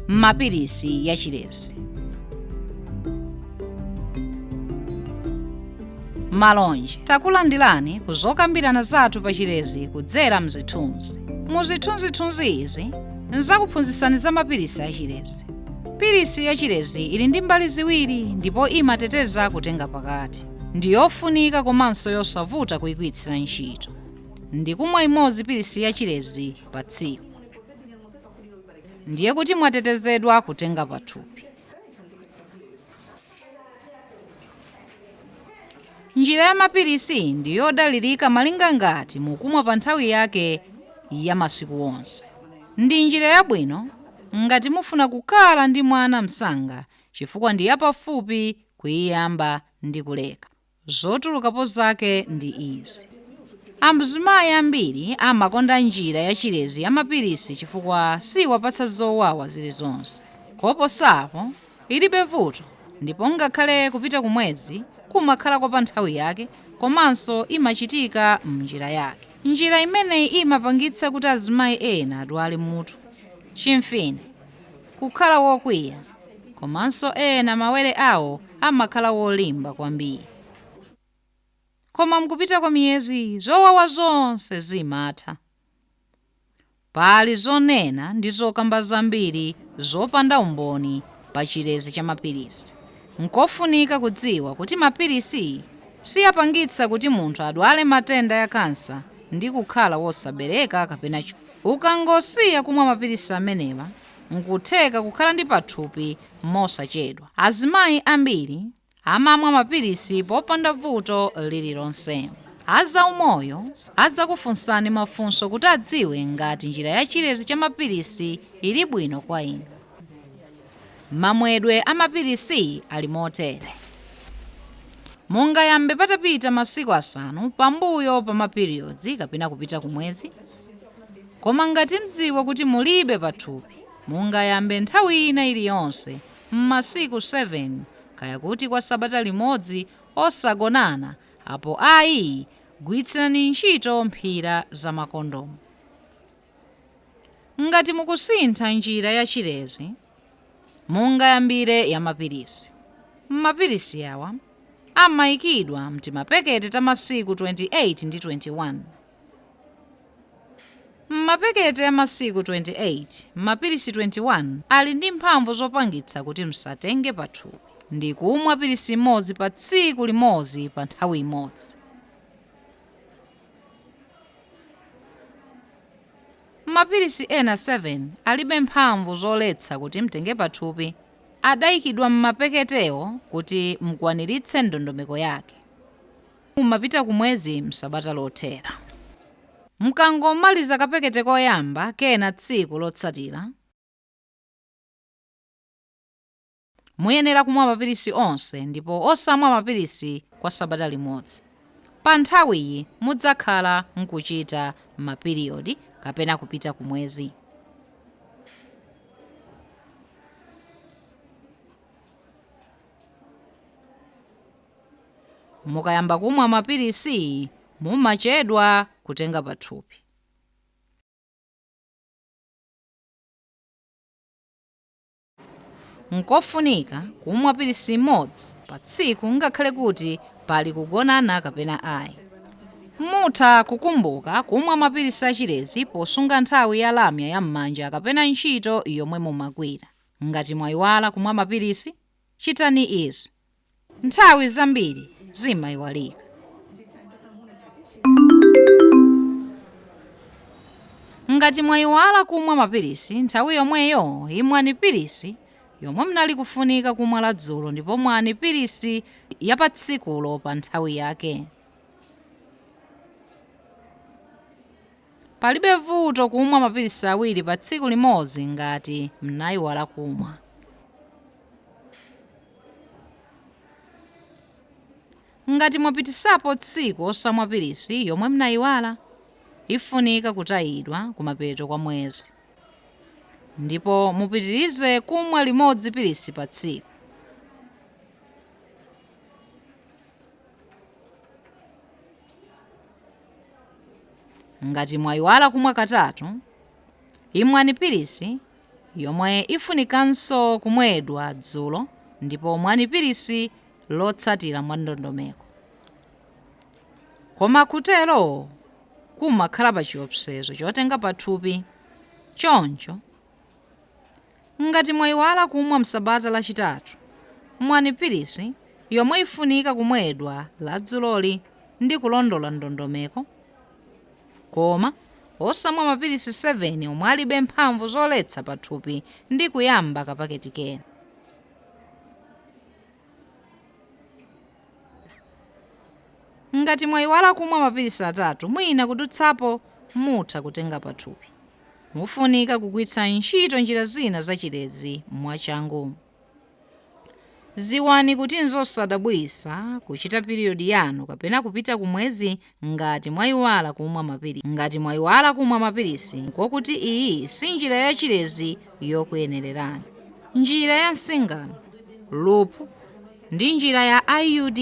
mapilisi ya chilezi malonje takulandirani ku zokambirana zathu pa chilezi kudzera mzithunzi mu zithunzithunzi izi ndzakuphunzitsani za mapilisi a chilezi pilisi ya chilezi ili ndi mbali ziwiri ndipo imateteza kutenga pakati ndi yofunika komanso yosavuta kuigwiritsira ntchito ndi kumwa imodzi pilisi ya chilezi pa tsiku ndiye kuti mwatetezedwa kutenga pathupi njira ya mapilisi ndi yodalirika malinga ngati mukumwa pa nthawi yake ya masiku onse ndi njira yabwino ngati mufuna kukhala ndi mwana msanga chifukwa ndi yapafupi kuiyamba ndi kuleka Zotulukapo zake ndi izi, Amzimayi ambiri amakonda njira yachilezi ya mapilisi chifukwa siiwapatsa zowawa zilizonse. Koposa apo, ilibe vuto, ndipo ngakhale kupita kumwezi kumakhala kwa panthawi yake komanso imachitika m'njira yake. Njira imeneyi imapangitsa kuti azimayi ena adwale mutu, chimfine, kukhala wokwiya, komanso ena mawere awo amakhala wolimba kwambiri. Koma m'kupita kwa miyezi zowawa zonse zimatha. Pali zonena ndi zokamba zambiri zopanda umboni pa chilezi cha mapilisi. Nkofunika kudziwa kuti mapilisi siapangitsa kuti munthu adwale matenda a kansa ndi kukhala wosabereka kapena Ukangosiya kumwa mapilisi amenewa, n'kutheka kukhala ndi pathupi mosachedwa. Azimayi ambiri amamwa mapilisi popanda vuto lililonse. A zaumoyo adzakufunsani mafunso kuti adziwe ngati njira ya chilezi cha mapilisi ili bwino kwa inu. Mamwedwe a mapilisi ali motere. Mungayambe patapita masiku asanu pambuyo pa mapiriyodi kapena kupita kumwezi. Koma ngati mdziwa kuti mulibe pathupi, mungayambe nthawi ina iliyonse m'masiku 7, kaya kuti kwa sabata limodzi osagonana apo ayi gwiritsani ntchito mphira za makondomu. Ngati mukusintha njira ya chilezi, mungayambire ya mapilisi. Mapilisi awa amaikidwa mtimapekete ta masiku 28 ndi 21. M'mapaketi a masiku 28, mapilisi 21 ali ndi mphamvu zopangitsa kuti msatenge pathupi ndi kumwa pilisi imodzi pa tsiku limodzi pa nthawi imodzi. Mapilisi ena 7 alibe mphamvu zoletsa kuti mtenge pathupi, adaikidwa m'mapaketewo kuti mukwaniritse ndondomeko yake. mumapita ku mwezi m'sabata lothera. Mukangomaliza kapakete koyamba kenako tsiku lotsatira, muyenera kumwa mapilisi onse ndipo osamwa mapilisi kwa sabata limodzi. Pa nthawiyi mudzakhala mukuchita ma period kapena kupita ku mwezi. Mukayamba kumwa mapilisiyi mumachedwa kutenga pathupi. N'kofunika kumwa pilisi imodzi pa tsiku ngakhale kuti pali kugonana kapena ayi. Mutha kukumbuka kumwa mapilisi a chilezi posunga nthawi ya lamya ya m'manja kapena ntchito yomwe mumagwira. Ngati mwayiwala kumwa mapilisi, chitani izi. nthawi zambiri zimayiwalika ngati mwayiwala kumwa mapilisi nthawi yomweyo imwani pilisi yomwe mnali kufunika kumwa la dzulo ndipo mwani pilisi ya pa tsikulo pa nthawi yake palibe vuto kumwa mapilisi awiri pa tsiku limodzi ngati mnayiwala kumwa Ngati mwapititsapo tsiku osamwa pilisi yomwe mnayiwala, ifunika kutayidwa kumapeto kwa mwezi. Ndipo mupitirize kumwa limodzi pilisi pa tsiku. Ngati mwayiwala kumwa katatu, imwani pilisi yomwe ifunikanso kumwedwa dzulo ndipo mwani pilisi lotsatira mwandondomeko. Koma kutero kumakhala pachiopsezo chotenga pathupi. Choncho, ngati mwaiwala kumwa msabata lachitatu, mwani pilisi yomwe ifunika kumwedwa la dzuloli ndi kulondola ndondomeko. Koma, osamwa mapilisi 7 omwe alibe mphamvu zoletsa pathupi ndi kuyamba kapaketi kena. Ngati mwayiwala kumwa mapilisi atatu mwina kudutsapo, mutha kutenga pathupi. Mufunika kugwiritsa ntchito njira zina za chilezi mwachangu. Dziwani kuti n'zosadabwitsa kuchita piriyodi yanu kapena kupita ku mwezi ngati mwaiwala kumwa mapilisi. Ngati mwaiwala kumwa mapilisi, ndiko kuti iyi si njira ya chilezi yokuyenererani. Njira ya nsingano, loop, ndi njira ya IUD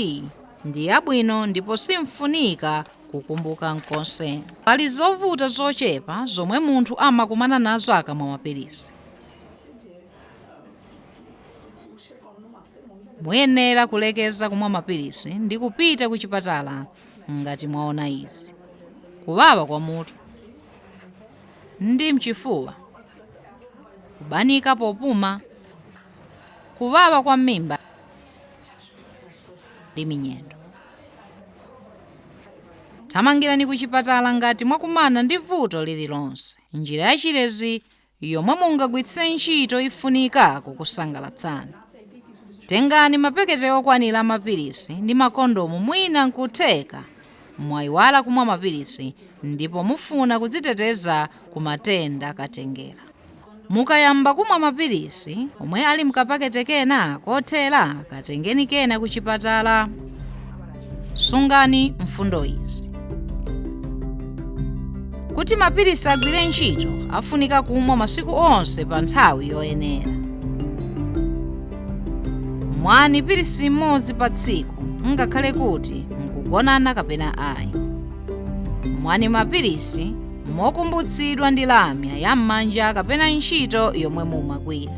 ndi yabwino ndipo sim'funika kukumbuka n'konse. Pali zovuta zochepa zomwe munthu amakumana nazo akamwa mapilisi. muyenera kulekeza kumwa mapilisi ndi kupita ku chipatala ngati mwaona izi kuwawa kwa mutu ndi mchifuwa kubanika popuma kuwawa kwa m'mimba ndi minyendo thamangirani ku chipatala ngati mwakumana ndi vuto lililonse njira ya chilezi yomwe mungagwiritse ntchito ifunika kukusangalatsani. Tengani mapekete okwanira a mapilisi ndi makondomu mwina nkutheka mwaiwala kumwa mapilisi ndipo mufuna kudziteteza ku matenda katengera. Mukayamba kumwa mapilisi omwe ali mkapakete kena kothera katengeniko kena kuchipatala. Sungani mfundo izi. Kuti mapilisi agwire ntchito afunika kumwa masiku onse pa nthawi yoyenera. Mwani pilisi imodzi pa tsiku ngakhale kuti mukugonana kapena ayi. Mwani mapilisi mokumbutsidwa ndi lamya ya m'manja kapena ntchito yomwe mumagwira.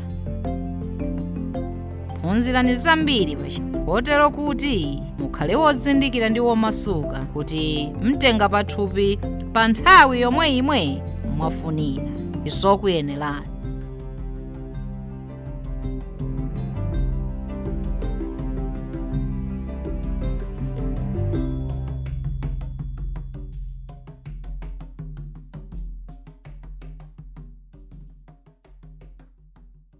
phunzirani zambiri pachi kotero kuti mukhale wozindikira ndi womasuka kuti mutenga pathupi pa nthawi yomwe imwe mwafunira zokuyenererani